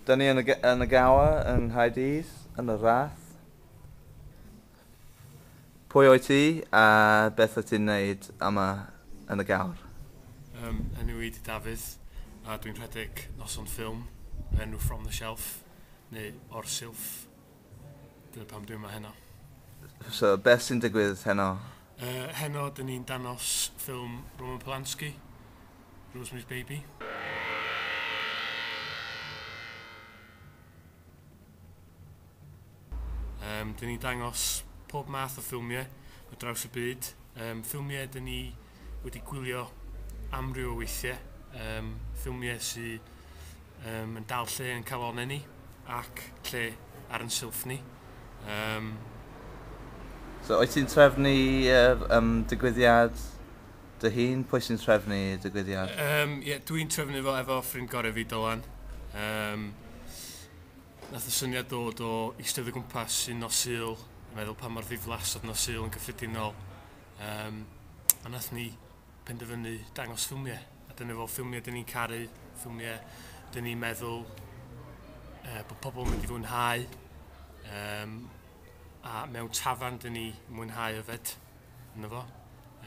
Dyn ni yn y, yn y gawa yng Nghaerdydd, yn y rath. Pwy o'i ti a beth wyt ti'n neud yma yn y gawr? Um, enw i di Dafydd a dwi'n rhedeg noson ffilm enw From the Shelf neu O'r Silff Dyna pam dwi yma heno. So, beth sy'n digwydd heno? Uh, heno, dyn ni'n danos ffilm Roman Polanski, Rosemary's Baby. Um, dyn ni'n dangos pob math o ffilmiau o draws y byd. Um, ffilmiau dyn ni wedi gwylio amryw o weithiau, um, ffilmiau sydd um, yn dal lle yn calonau ni ac lle ar yn silff ni. Um, so, oes ti'n trefnu er, um, digwyddiad dy hun? Pwy sy'n trefnu digwyddiad? Um, yeah, dwi'n trefnu fo efo ffrind gorau fi, Dylan. Um, nath y syniad dod o eistedd o gwmpas sy'n nos Sul, meddwl pa mor ddiflas oedd nos Sul yn gyffredinol, Um, a nath ni penderfynu dangos ffilmiau. A dyna fo ffilmiau dyn ni'n caru, ffilmiau dyn ni'n meddwl uh, bod pobl yn mynd i fwynhau. Um, a mewn tafan dyn ni mwynhau yfed yna fo.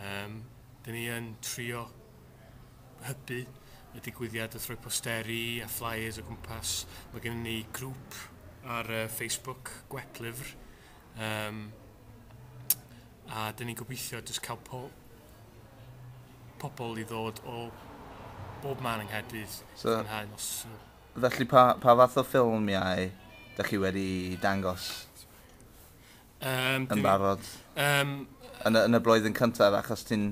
Um, dyn ni yn trio hybu y digwyddiad wrth roi posteri a flyers o gwmpas. Mae gen ni grŵp ar uh, Facebook, Gwep Lyfr, Yym a 'dyn ni'n gobeithio jyst cael po- pobl i ddod o bob man yng Nghaerdydd so, i fwynhau nos nhw. Felly pa, pa fath o ffilmiau dych chi wedi dangos um, yn barod? Um, yn, y, yn y blwyddyn cyntaf achos ti'n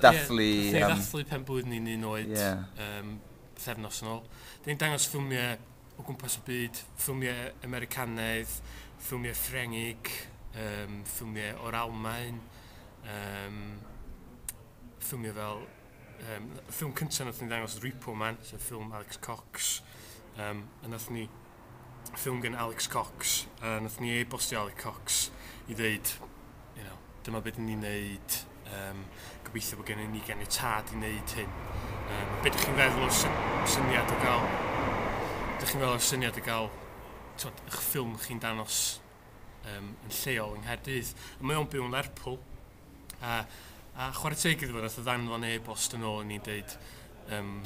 dathlu... Ie, yeah, um, dathlu pen blwydd ni'n un oed yeah. um, thefnos yn ôl. Dyn ni'n dangos ffilmiau o gwmpas y byd, ffilmiau Americanaidd, ffilmiau Ffrengig, um, ffilmiau o'r Almain, um, ffilmiau fel... Um, y ffilm cyntaf nath ni ddangos oedd Repo Man, sef ffilm Alex Cox. Um, a nath ni ffilm gen Alex Cox, a nath ni e-bostio Alex Cox i ddeud you know, dyma beth ni'n neud, um, gobeithio bod gennym ni gen i tad i neud hyn. Um, beth ydych chi'n feddwl o'r syniad o gael, ydych chi'n feddwl o'r syniad o gael twod, eich ffilm chi'n danos um, yn lleol yng Nghaerdydd. A mae o'n byw yn Lerpwl. A, a chwarae teg iddo fo, nath o ddanfon e-bost yn ôl yn ni'n dweud, um,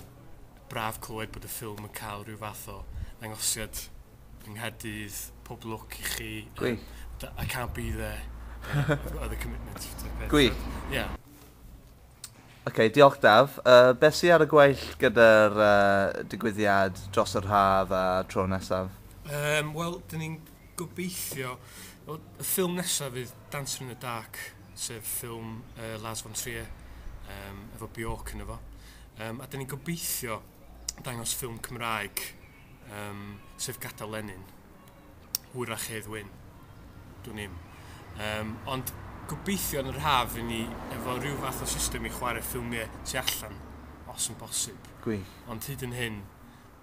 braf clywed bod y ffilm yn cael rhyw fath o ddangosiad yng Nghaerdydd, pob lwc i chi. Gwych. Um, I can't be there. I've other commitments. Gwych. Yeah. Oce, okay, diolch Daf. Uh, beth sy'n ar y gweill gyda'r uh, digwyddiad dros yr haf a tro nesaf? Um, Wel, dyn ni'n gobeithio... Well, y ffilm nesaf fydd Dancer in the Dark, sef ffilm uh, Lars von Trier, um, efo Bjork yn efo. Um, a dyn ni'n gobeithio dangos ffilm Cymraeg Yym, sef gadael Lenin. Hwyrach Hedd Wyn. Dwn i'm. Yym, ond gobeithio yn yr haf i ni efo rhyw fath o system i chwarae ffilmiau tu allan, os yn bosib. Gwych. Ond hyd yn hyn,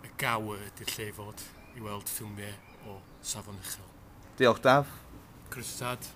y gaw ydy'r lle i fod, i weld ffilmiau o safon uchel. Diolch, Daf. Croeso tad.